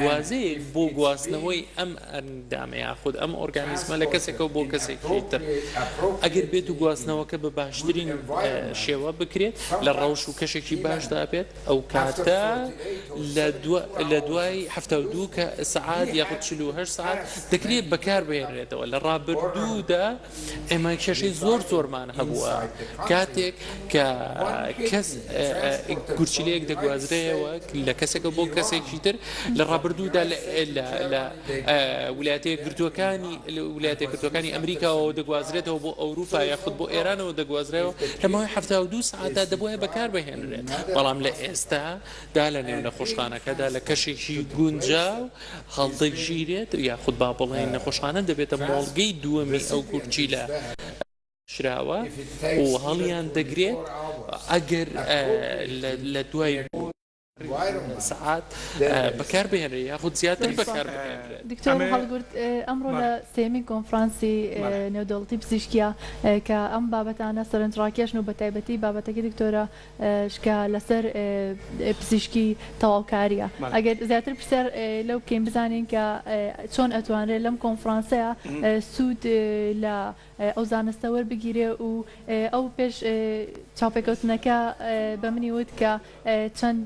واژەیەک بۆ گواستنەوەی ئەم ئەندامە یاخود ئەم ئۆرگانیزمە لە کەسێکەوە بۆ کەسێکی تر ئەگەر بێت و گواستنەوەکە بە باشترین شێوە بکرێت لە ڕەوش و کەشێکی باشدا بێت ئەو کاتە لە دوای حەفتا و دوو سەعات یاخود چل و هەشت سەعات دەکرێت بەکاربهێنرێتەوە لە ڕابردوودا ئێمە کێشەی زۆر زۆرمان هەبووە کاتێک کە کەس گورچیلەیەک دەگوازرەیەوە لە کەسێکە بۆ کەسێکی تر لە ڕابردوودا لە ولاتە گرتوەکانی ولاتە گرتوەکانی ئەمریکاەوە دەگوازرێتەوە بۆ ئەوروپا یاخود بۆ ئێرانەوە دەگوازرەوە لەمەوەی ه دو ساعتدا دەبواە بەکار بهێنرێت بەڵام لە ئێستا دا لە نێو نەخۆشخانەکەدا لە کەشێکی گونجاو هەڵدەگیرێت یاخود با بڵێین نەخۆشخانە دەبێتە مۆڵگەی دووەمی ئەو گورچیلە شراوە و هەڵیان دەگرێت ئەگەر لە دوای سەعات بەکار بهێنرێت یاخود زیاتر بەکار بهێنرێت. دکتۆر هەڵگورد ئەمڕۆ لە سێیەمین کۆنفرانسی نێودەوڵەتی پزیشکییە کە ئەم بابەتانە سەرنجڕاکێشن و بەتایبەتی بابەتەکەی دکتۆرە کە لەسەر پزیشکی تەواوکاریە ئەگەر زیاتر پرسیار لەو بکەین بزانین کە چۆن ئەتوانرێت لەم کۆنفرانسەیە سوود لە ئەو زانستە وەربگیرێ و ئەو پێش چاوپێکەوتنەکە بە منی وت کە چەند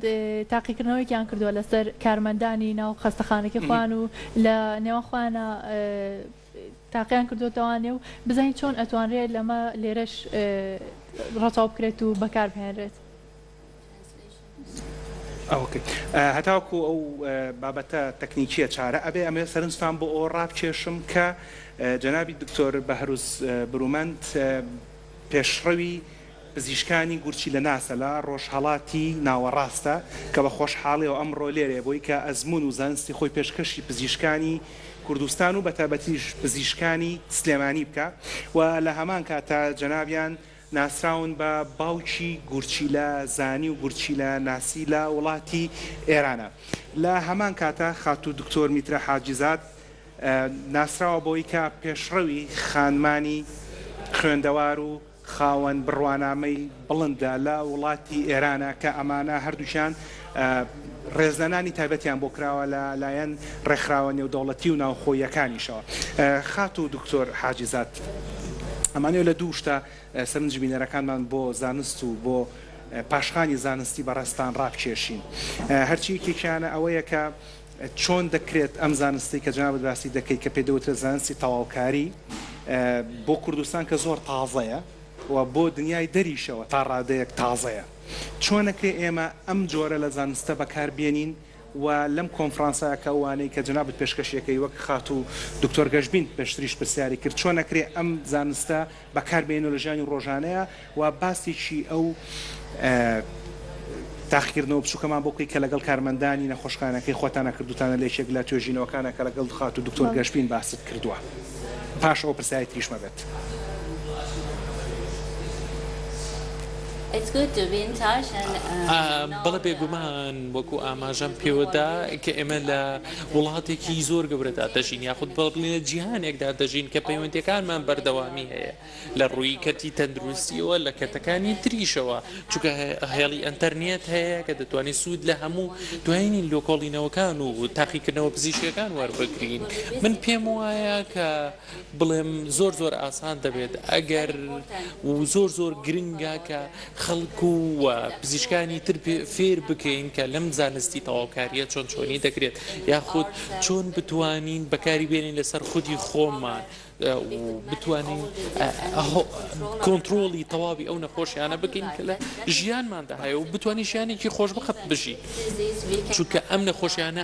تاقیکردنەوەیکیان کردووە لەسەر کارمەندانی ناو خەستەخانەکەی خۆیان و لە نێوان خۆیانە تاقیان کردۆتەوە نێ و بزانین چۆن ئەتوانرێت لەمە لێرەش ڕەچاو بکرێت و بەکار بهێنرێت. ئەوکەی هەتاوکو ئەو بابەتە تەکنیکیە چارە ئەبێ ئەمێ سەرنجتان بۆ ئەوە ڕابکێشم کە جەنابی دکتۆر بەهروز برومەند پێشڕەوی پزیشکانی گورچیلەناسە لە ڕۆژهەڵاتی ناوەڕاستە کە بە خۆشحاڵیەوە ئەمڕۆ لێرەیە بۆی کە ئەزموون و زانستی خۆی پێشکەشی پزیشکانی کوردستان و بە تابەتیش پزیشکانی سلێمانی بکا و لە هەمان کاتدا جەنابیان ناسراون بە باوکی گورچیلە زانی و گورچیلە ناسی لە وڵاتی ئێرانە لە هەمان کاتدا خاتوو دکتۆر میترا حاجیزاد ناسراوە بەوەی کە پێشڕەوی خانمانی خوێندەوار و خاوەن بڕوانامەی بڵندە لە وڵاتی ئێرانە کە ئەمانە هەردووکیان ڕێزلێنانی تایبەتیان بۆ کراوە لە لایەن ڕێکخراوە نێودەوڵەتی و ناوخۆییەکانیشەوە. خاتوو دکتۆر حاجیزاد، ئەمانەوێت لە دوو شتە سەرنجی بینەرەکانمان بۆ زانست و بۆ پاشخانی زانستی بەڕێزتان ڕابکێشین. هەرچی یەکێکیانە ئەوەیە کە، چۆن دەکرێت ئەم زانستەی کە جەنابت باسی دەکەیت کە پێی دەوترێت زانستی تەواوکاری بۆ کوردستان کە زۆر تازەیە و بۆ دنیای دەریشەوە تا ڕادەیەک تازەیە چۆن ئەکرێت ئێمە ئەم جۆرە لە زانستە بەکار بێنین و لەم کۆنفرانسە کە ئەوانەی کە جەنابت پێشکەشی ئەکەی وەک خاتوو دکتۆر گەشبین پێشتریش پرسیاری کرد چۆن ئەکرێت ئەم زانستە بەکاربهێنەوە لە ژیانی ڕۆژانەیا و باسێکی ئەو تاقیکردنەوە بچووکەمان بۆ بکەی کە لەگەڵ کارمەندانی نەخۆشخانەکەی خۆتانە کردووتانە لە یەکێک لە توێژینەوەکانە کە لەگەڵ خاتوو دکتۆر گەشبین باست کردووە پاش ئەوە پرسیاری تریش مەبەت. بەڵێ بێگومان وەکو ئاماژەم پێوەدا کە ئێمە لە. وڵاتێکی زۆر گەورەدا دەژین یاخود بڵێین لە جیهانێکدا دەژین کە پەیوەندیەکانمان بەردەوامی هەیە لە ڕووی کەرتی تەندروستیەوە لە کەتەکانی تریشەوە چکە هێڵی ئەتەرنیێت هەیە کە دەتوانین سوود لە هەموو دوایین لۆکۆڵینەوەکان و تاقیکردنەوە پزیشکەکان وەربگرین من پێم وایە کە بڵێم زۆر زۆر ئاسان دەبێت ئەگەر و زۆر زۆر گرنگە کە خەڵک و پزیشکانی تر فێر بکەین کە لەم زانستی تەواوکاریە چۆن چۆنی دەکرێت یاخود چۆن بتوانین بەکاری بێنین لەسەر خودی خۆمان بتوانین کۆنتترۆڵی تەواوی ئەو نەخۆشیانە بکەین کە لە ژیانماندا هەیە و بتوانین ژیانێکی خۆشبخت بژی چونکە ئەم نەخۆشیانە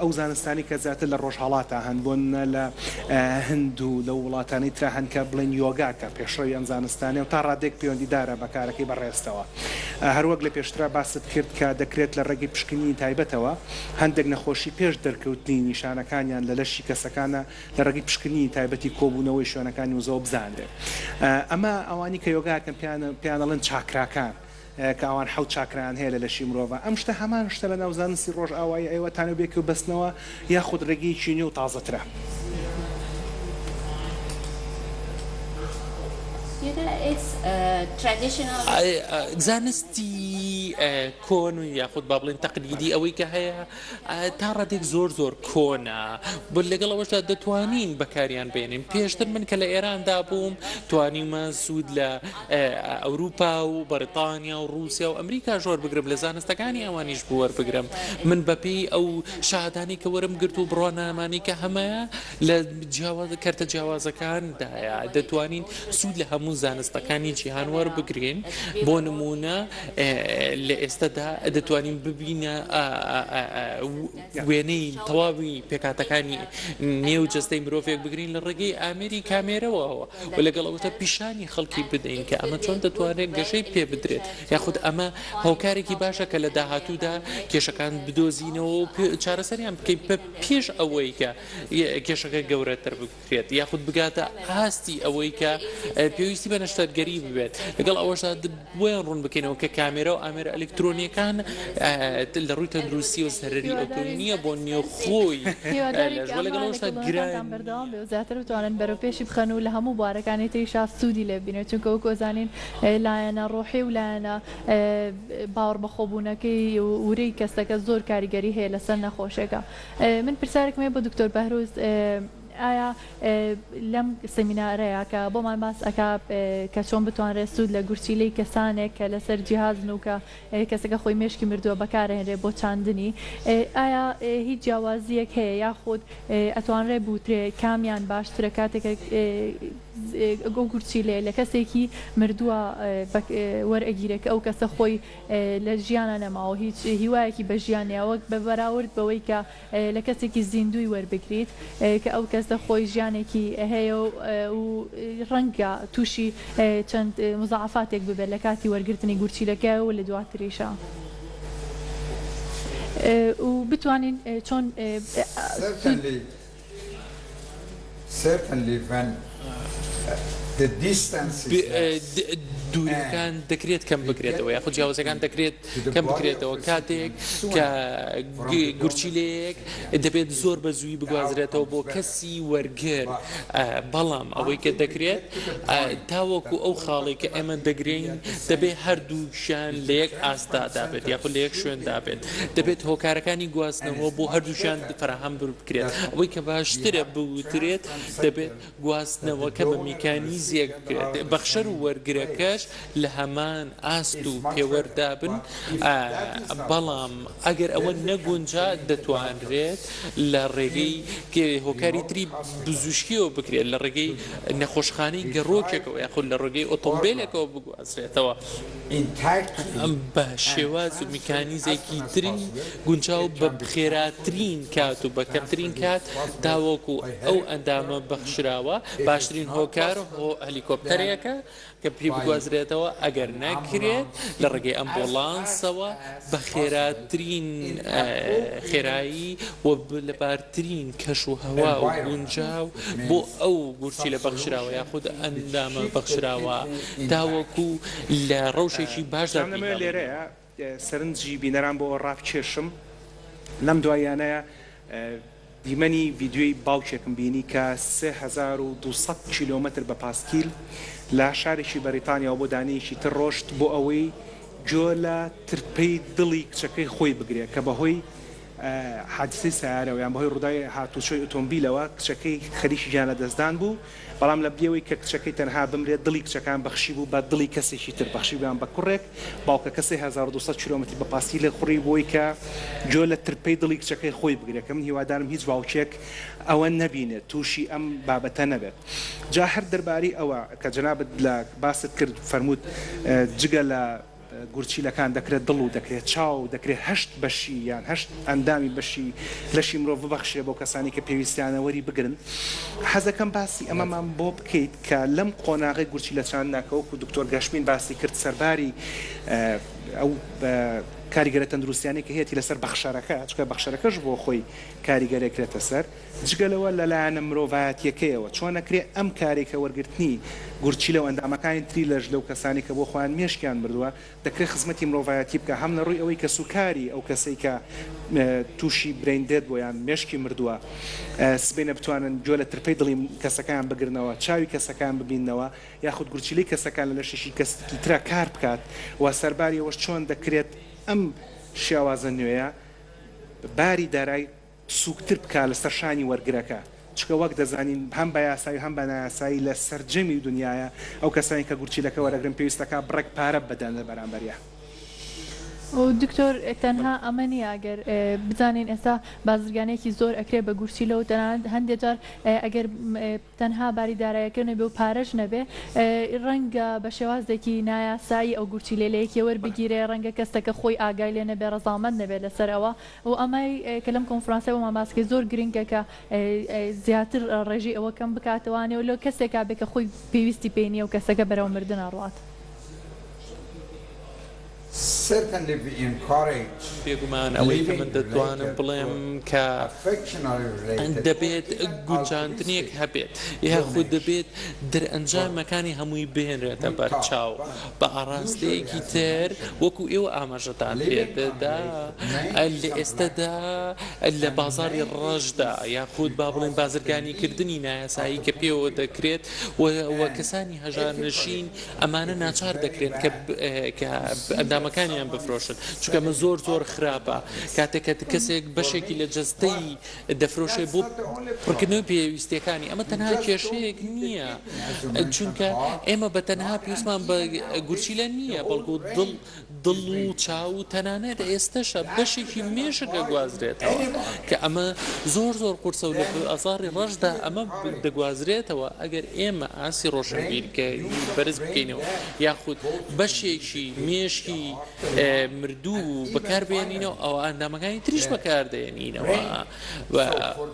ئەو زانستانەی کە زیاتر لە ڕۆژهەڵاتا هەن، بۆ نمونە لە هند و لەو وڵاتانەی ترا هەن کە بڵێین یۆگا کە پێشڕەوی ئەم زانستانەیە و تا ڕادەیەک پەیوەندیدارە بە کارەکەی بەڕێزتەوە. هەر وەک لە پێشترا باست کرد کە دەکرێت لە ڕێگەی پشکنینی تایبەتەوە هەندێک نەخۆشی پێش دەرکەوتنی نیشانەکانیان لە لەشی کەسەکانا لە ڕێگەی پشکنینی تایبەتی کۆبوونەوەی شوێنەکانی وزەوە بزانرێت. ئەمە ئەوانی کە یۆگا ئەکەن پێیان پێیان ئەڵێن چاکراکان. کە ئەوان حەوت چاکرایان هەیە لە لەشی مرۆڤا ئەم شتە هەمان شتە لەناو زانستی ڕۆژئاوایی ئەیوە تانە بێکیو بەستنەوە یاخود ڕێگەیەکی نوێ و تازەترە؟ زانستی کۆن یاخود با بڵێین تەقلیدی ئەوەی کە هەیە، تا ڕادەیەک زۆر زۆر کۆنە بۆ لەگەڵ ئەوەشدا دەتوانین بەکاریان بێنین پێشتر من کە لە ئێراندا بووم توانیمە سوود لە ئەوروپا و بەریتانیا و رووسیا و ئەمریکا ژۆر بگرم لە زانستەکانی ئەوانیش بوەربگرم من بەپی ئەو شادانی کە وەرم گرت و بڕوانامانی کە هەمە لە کەرتە جیاوازەکاندایە دەتوانین سوود لە هەموو زانستەکانی جیهان وەربگرین بۆ نمونە لە ئێستادا دەتوانین ببینە وێنەی تەواوی پێکاتەکانی نێو جستەی مرۆڤێک بگرین لە ڕێگەی ئامێری کامێرەوە و لەگەڵ ئەوتە پیشانی خەڵکی بدەین کە ئەمە چۆن دەتوانێت گەشەی پێ بدرێت یاخود ئەمە هۆکارێکی باشە کە لە داهاتوودا کێشەکان بدۆزینەوە چارەسەریان بکەین پێش ئەوەی کە کێشەکە گەورەتر بکرێت یاخود بگاتە ئاستی ئەوەی کە پێویستی بە نەشتەرگەری ببێت لەگەڵ ئەوەشدا بۆیان ڕوون بکەینەوە کە کامێرە و ئامێرە ئەلکترۆنیەکان لە ڕووی تەندروستی و سەرری ئەوتۆی نییە بۆ نییە خۆی لەگەڵشتا گران بەردەوام بێ زیاتر بتوانن بەرەو پێشی بخەن و لە هەموو بوارەکانی تریشا سوودی لێبینێت چونکە وەکۆزانین لایەنە ڕۆحی و لایەنە باوەڕبەخۆبوونەکەی و ورەی کەسەکە زۆر کاریگەری هەیە لەسەر نەخۆشێکە من پرسیارێکم هەیە بۆ دکتۆر بەهروز ئایا لەم سمینارەیە کە بۆمان باس ئەکا کە چۆن بتوانرێت سوود لە گورچیلەی کەسانێک کە لەسەر جیهازن و کە کەسەکە خۆی مێشکی مردووە بەکارهێنرێت بۆ چاندنی ئایا هیچ جیاوازیەک هەیە یاخود ئەتوانرێت بوترێ کامیان باشترە کاتێکە گورچیلەیە لە کەسێکی مردووە وەرئەگیرێ کە ئەو کەسە خۆی لە ژیانا نەماوە هیچ هیوایەکی بە ژیان نیە وەک بە بەراورد بەوەی کە لە کەسێکی زیندووی وەربگریت کە ئەو کەسە خۆی ژیانێکی هەیە و ڕەنگە تووشی چەند موزاعەفاتێک ببێت لە کاتی وەرگرتنی گورچیلەکەی و لە دواتریشا و بتوانین چۆن. دوورییەکان دەکرێت کەم بکرێتەوە یاخود جیاوازییەکان دەکرێت کەم بکرێتەوە کاتێک کە گورچیلەیەک دەبێت زۆر بە زووی بگوازرێتەوە بۆ کەسی وەرگر بەڵام ئەوەی کە دەکرێت تاوەکو ئەو خاڵی کە ئێمە دەگرین دەبێت هەردووکیان لە یەک ئاستدا دابێت یاخود لە یەک شوێندا بێت. دەبێت هۆکارەکانی گواستنەوە بۆ هەردووکیان فەراهەم بکرێت. ئەوەی کە باشترە بوترێت، دەبێت گواستنەوەکە بە میکانیزیەک بکرێت، بەخشەر و وەرگرەکەش لە هەمان ئاست و پێوەردا بن، بەڵام ئەگەر ئەوە نەگونجا، دەتوانرێت لە ڕێگەی هۆکاری تری بزوشکیەوە بکرێت، لە ڕێگەی نەخۆشخانەی گەڕۆکێکەوە یاخود لە ڕێگەی ئۆتۆمبێلێکەوە بگوازرێت. بە شێواز و میکانیزەکی تری گونجاو بە خێراترین کات و بە کەمترین کات تاوەکو ئەو ئەندامە بەخشراوە باشترین هۆکار هەلیکۆپتەرێکە کە پێی بگوازرێتەوە ئەگەر نەکرێت لە ڕێگەی ئەمبوڵانسەوە بە خێراترین خێرایی و لە ترین کەش و هەوا و گونجاو بۆ ئەو گورچیلە بەخشراوە یاخود ئەندامە بەخشراوە تاوەکو لە ڕەوشێکی باشدا جام دەمەوێت بیکەم. لێرەیە سەرنجی بینەران بۆ ئەوە ڕابکێشم لەم دواییانەیە دیمەنی ڤیدیۆی باوکێکم بینی کە سێ هەزار و دوو سەد کیلۆمەتر بە پاسکیل لە شارێکی بەریتانیاوە بۆ دانەیەکی تر ڕۆشت بۆ ئەوەی گوێ لە ترپەی دڵی کچەکەی خۆی بگرێت کە بەهۆی حادسەی سەیارەوە یان بەهۆی ڕووداوی هاتووچۆی ئۆتۆمبیلەوە کچەکەی خەریکی گیانلەدەستدان بوو، بەڵام لە بریەوەی کە کچەکەی تەنها بمرێت دڵی کچەکان بەخشیبوو بە دڵی کەسێکی تر بەخشیبوویان بە کوڕێک، باوکەکە سێ هەزار و دوو سەد کیلۆمەتری بە پاستی لێ خوڕی بۆی کە گوێ لە ترپەی دڵی کچەکەی خۆی بگرێت کە من هیوادارم هیچ باوکێک ئەوە نەبینێت تووشی ئەم بابەتە نەبێت جا هەر دەربارەی ئەوە کە جەنابت لە باست کرد فەرمووت جگە لە گورچیلەکان دەکرێت دڵ و دەکرێت چاو، دەکرێت هەشت بەشی یان هەشت ئەندامی بەشی لەشی مرۆڤ ببەخشرێت بۆ کەسانی کە پێویستیانە وەری بگرن. حەزەکەم باسی ئەمەمان بۆ بکەیت کە لەم قۆناغەی گورچیلە چاندنا کە وەکو دکتۆر گەشبین باسی کرد سەرباری ئەو کاریگەرە تەندروستیانەی کە هەیەتی لەسەر بەخشەرەکە، چونکە بەخشەرەکەش بۆ خۆی کاریگەرێکرێتە سەر. جگە لەوە لە لایەنە مرۆڤایەتییەکەیەوە چۆن ئەکرێ ئەم کارەی کە وەرگرتنی گورچیلە و ئەندامەکانی تری لەش لەو کەسانەی کە بۆ خۆیان مێشکیان مردووە دەکرێ خزمەتی مرۆڤایەتی بکا هەم لە ڕووی ئەوەی کەسوکاری ئەو کەسەی کە تووشی برەین دێد بووە یان مێشکی مردووە سبەینێ بتوانن گوێ لە ترپەی دڵی کەسەکەیان بگرنەوە چاوی کەسەکەیان ببیننەوە یاخود گورچیلەی کەسەکە لە لەشێکی کەسێکی ترا کار بکات و سەرباری ئەوەش چۆن دەکرێت ئەم شێوازە نوێیە باری دارای سوکتر بکات لەسەر شانی وەرگرەکە، چونکە وەک دەزانین هەم بە یاسایی و هەم بە نایاسایی لە سەرجەمی دونیایا ئەو کەسانەی کە گورچیلەکە وەرەگرن پێویست دەکات بڕێک پارە بدەن لە بەرامبەریا. دکتۆر تەنها ئەمە نیە گەر بزانین ئێستا بازرگانێکی زۆر ئەکرێت بە گورچیلە و تەنانەت هەندێ جار ئەگەر تەنها باری دارایەکە نەبێ و پارەش نەبێ، ڕەنگە بە شێوازێکی نایاسایی ئەو گورچیلەیە لە یەکێ وەربگیرێ، ڕەنگە کەسەکە خۆی ئاگای لێ نەبێ، ڕەزامەند نەبێ لەسەر ئەوە و ئەمەی کە لەم کۆنفرانسە بۆمان باس کرد زۆر گرنگە کە زیاتر ڕێژەی ئەوە کەم بکاتەوە ئەنێ و لۆ کەسێکا بێ کە خۆی پێویستی پێی نییە و کەسەکە بەرەو مردن ئەڕوات. بێگومان ئەوەی کە من دەتوانم بڵێم کە دەبێت گونجاندنێک هەبێت یاخود دەبێت دەرئەنجامەکانی هەمووی بهێنرێتە بەرچاو بە ئاڕاستەیەکی تر وەکو ئێوە ئاماژەتان پێدا لە ئێستەدا لە بازاری ڕەشدا یاخود با بڵێن بازرگانیکردنی نایاسایی کە پێوە دەکرێت و کەسانی هەژارنشین ئەمانە ناچار دەکرێن کە کە ئەندامەکانیان بفرۆشن چونکە من زۆر زۆر خراپە کاتێککە کەسێک بەشێکی لە جستەی دەفرۆشێ بۆ پڕکردنەوەی پێویستەکانی ئەمە تەنها کێشەیەک نییە چونکە ئێمە بە تەنها پێویستمان بە گورچیلە نییە بەڵکو دڵ دڵ و چاو و تەنانەت ئێستەشە بەشێکی مێشک ئەگوازرێتەوە کە ئەمە زۆر زۆر قورسە و لە ئازاری ڕەشدا ئەمە دەگوازرێتەوە ئەگەر ئێمە ئاستی ڕۆشنبیرکەری بەرز بکەینەوە یاخود بەشێکی مێشکی مردوو بەکاربهێنینەوە ئەوا ئەندامەکانی تریش بەکاردەهێنینەوە.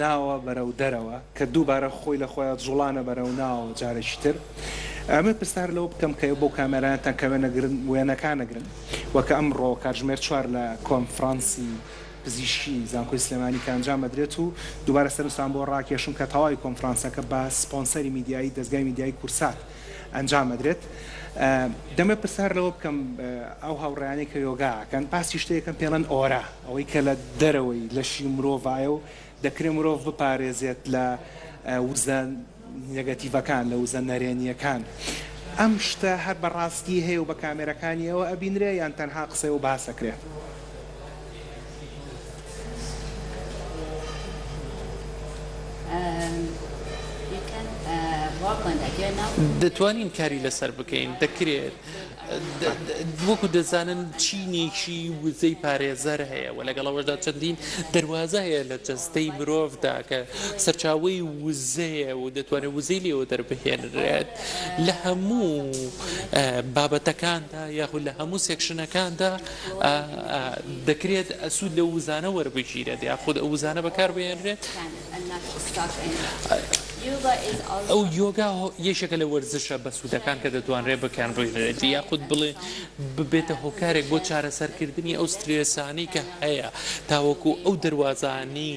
ناوە بەرەو دەرەوە کە دووبارە خۆی لە خۆیا جوڵانە بەرەو ناوەوە جارێکی تر ئەمە پرسار لەوە بکەم کە بۆ کامێرایانتان کە وێنە گرن وێنەکان ئەگرن وە کە ئەمڕۆ کاتژمێر چوار لە کۆنفڕانسی پزیشکی زانکۆی سلێمانی کە ئەنجام ئەدرێت و دووبارە سەرنجتان بۆ ڕاکێشم کە تەواوی کۆنفڕانسەکە بە سپۆنسەری میدیایی دەزگای میدیایی کورسات ئەنجام ئەدرێت دەمە پرسار لەوە بکەم ئەو هاوڕێیانەی کە یۆگا ئەکەن باسی شتێکەکەن پێڵێن ئۆرا ئەوەی کە لە دەرەوەی لەشی مرۆڤایە و دەکرێت مرۆڤ بپارێزێت لە وزە نێگەتیڤەکان، لە وزە نەرێنییەکان. ئەم شتە هەر بە ڕاستی هەیە و بە کامێرەکانی ئەوە ئەبینرێ یان تەنها قسەی و باسە کرێ؟ دەتوانین کاری لەسەر بکەین، دەکرێت. وەکو دەزانن چینێکی وزەی پارێزەر هەیە و لەگەڵ ئەوەشدا چەندین دەروازە هەیە لە جەستەی مرۆڤدا کە سەرچاوەی وزەیە و دەتوانێت وزەی لێوە دەربهێنرێت لە هەموو بابەتەکاندا یاخود لە هەموو سێکشنەکاندا دەکرێت ئەسوود لە وزانە وەربگیرێت یاخود ئەو وزانە بەکاربهێنرێت ئەو یۆگا یەکێکە لە وەرزشە بەسوودەکان کە دەتوانرێت بەکاربهێنرێت یاخود بڵێ ببێتە هۆکارێک بۆ چارەسەرکردنی ئەو سترێسانەی کە هەیە تاوەکو ئەو دەواازانی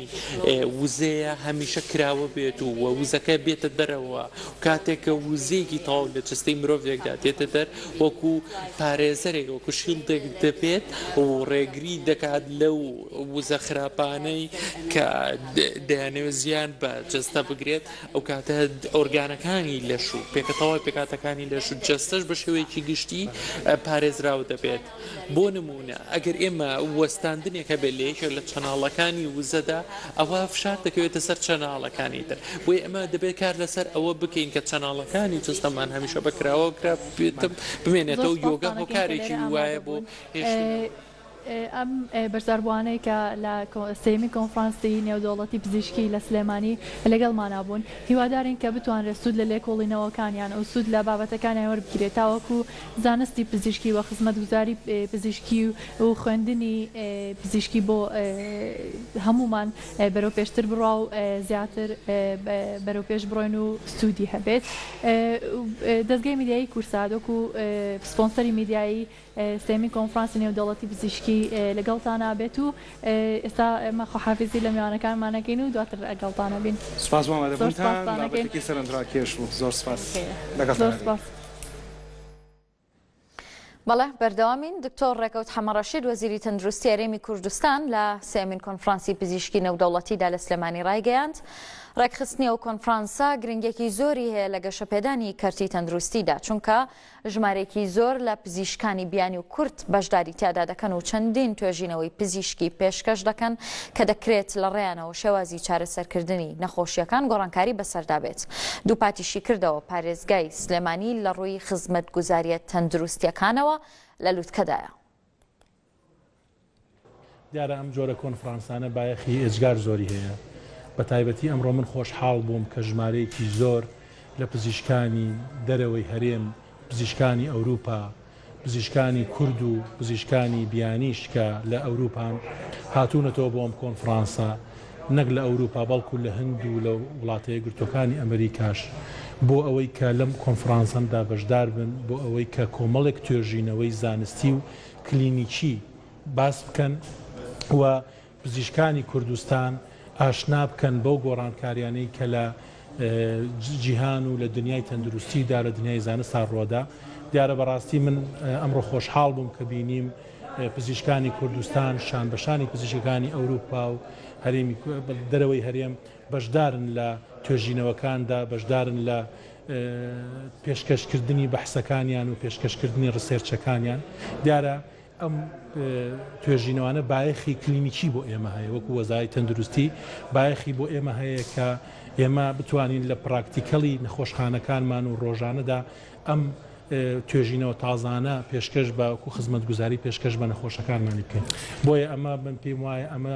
وزەیە هەمیشە کراوە بێت و وە وزەکە بێتە دەرەوە کاتێکە وزەیەکی تاو لە جستی مرۆڤێکدا دێتە دەر وەکو پارێزەرێک وەکو شیلدێک دەبێت و ڕێگری دەکات لەو وزە خراپانەی کە دەیانەوێت زیان بە جەستە بگرێت ئەو کاتە ئۆرگانەکانی لەش و پێکەتەوە پێکاتەکانی لەش و جەستەش بە شێوەیەکی گشتی پارێزراو دەبێت بۆ نمونە ئەگەر ئێمە وەستاندنێکە بێت لە یەکێک لە چەناڵەکانی وزەدا ئەوە فشار دەکەوێتە سەر چەناڵەکانی تر بۆی ئەمە دەبێت کار لەسەر ئەوە بکەین کە چەناڵەکانی جستەمان هەمیشە بەکراوە کرا بمێنێتەوە یۆگە هۆکارێکی وایە بۆ هێشت. ئەم بەشداربووانەی کە لە سێیەمین کۆنفرانسی نێودەوڵەتی پزیشکی لە سلێمانی لەگەڵمانا بوون، هیوادارین کە بتوانرێت سوود لە لێکۆڵینەوەکانیان و سوود لە بابەتەکانیان وەربگیرێت تاوەکو زانستی پزیشکی و خزمەتگوزاری پزیشکی و خوێندنی پزیشکی بۆ هەموومان بەرەوپێشتر بڕوا و زیاتر بەرەوپێش بڕۆین و سوودی هەبێت. دەزگای میدیایی کورسات وەکو سپۆنسەری میدیایی، سێمین کۆنفرانسی نێودەوڵەتی پزیشکی لەگەڵتان نابێت و ئێستا ئێمە خواحافیزی لە میوانەکانمان ئەکەین و دواتر ئەگەڵتان بین. سوپاس بۆ ئامادەبوونتان، بابەتێکی سەرنجڕاکێش بوو. زۆر سوپاس. لەگەڵتان ئەبین. بەڵێ بەردەوامین، دکتۆر ڕێکەوت حەمەڕەشید وەزیری تەندروستی هەرێمی کوردستان لە سێیەمین کۆنفرانسی پزیشکی نێودەوڵەتیدا لە سلێمانی ڕایگەیاند، ڕێکخستنی ئەو کۆنفرانسە گرنگیەکی زۆری هەیە لە گەشەپێدانی کەرتی تەندروستیدا، چونکە ژمارەیەکی زۆر لە پزیشکانی بیانی و کورد بەشداری تیادا دەکەن و چەندین توێژینەوەی پزیشکی پێشکەش دەکەن کە دەکرێت لە ڕێیانەوە شێوازی چارەسەرکردنی نەخۆشییەکان گۆڕانکاری بەسەردا بێت. دووپاتیشی کردەوە، پارێزگای سلێمانی لە ڕووی خزمەتگوزارییە تەندروستییەکانەوە لە لوتکەدایە. دیارە ئەم جۆرە کۆنفرانسانە بایەخی ئێجگار زۆری هەیە، بەتایبەتی ئەمڕۆ من خۆشحاڵ بووم کە ژمارەیەکی زۆر لە پزیشکانی دەرەوەی هەرێم، پزیشکانی ئەوروپا، پزیشکانی کورد و پزیشکانی بیانیش کە لە ئەوروپان هاتوونەتەوە بۆ ئەم کۆنفرانسە، نەک لە ئەوروپا بەڵکو لە هند و لە وڵاتەیەکگرتووەکانی ئەمریکاش بۆ ئەوەی کە لەم کۆنفرانسەمدا بەشداربن بۆ ئەوەی کە کۆمەڵێک توێژینەوەی زانستی و کلینیکی باس بکەن و پزیشکانی کوردستان ئاشنا بکەن بەو گۆڕانکاریانەی کە لە جیهان و لە دنیای تەندروستیدا لە دنیای زانستدا ڕوەدا دیارە بەڕاستی من ئەمڕۆ خۆشحاڵ بووم کە بینیم پزیشکانی کوردستان شان بەشانی پزیشکەکانی ئەوروپا و هەرێمی دەرەوەی هەرێم بەشدارن لە توێژینەوەکاندا، بەشدارن لە پێشکەشکردنی بەحسەکانیان و پێشکەشکردنی ڕسێرچەکانیان. دیارە ئەم توێژینەوانە بایەخی کلینیکی بۆ ئێمە هەیە، وەکو وەزارەی تەندروستی بایەخی بۆ ئێمە هەیە کە ئێمە بتوانین لە پراکتیکەڵی نەخۆشخانەکانمان و ڕۆژانەدا ئەم توێژینەوە تازانە پێشکەش بە وەکو خزمەتگوزاری پێشکەش بە نەخۆشەکانمانی بکەین. بۆیە ئەمە من پێم وایە ئەمە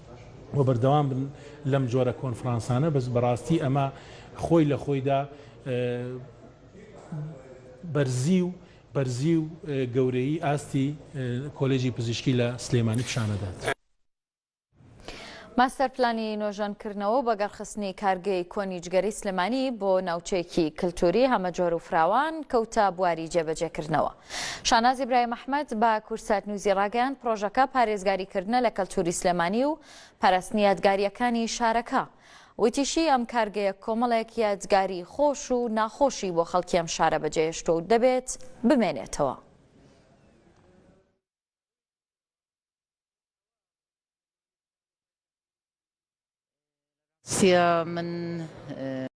و بەردەوام بن لەم جۆرە کۆنفرانسانە بەس بەڕاستی ئەمە خۆی لە خۆیدا بەرزی و بەرزی و گەورەیی ئاستی کۆلێجی پزیشکی لە سلێمانی پیشان ئەدات. ماستەر پلانی نۆژەنکردنەوە و بەگەڕخستنی کارگەی کۆنی جگەرەی سلێمانی بۆ ناوچەیەکی کلتووری هەمەجۆر و فراوان کەوتە بواری جێبەجێکردنەوە. شاناز ئیبراهیم ئەحمەد بە کوردسات نیوزی ڕاگەیاند، پڕۆژەکە پارێزگاریکردنە لە کەلتووری سلێمانی و پەرەستنی یادگارییەکانی شارەکە. وتیشی، ئەم کارگەیە کۆمەڵێک یادگاری خۆش و ناخۆشی بۆ خەڵکی ئەم شارە بەجێهێشتووە و دەبێت بمێنێتەوە. سیا من.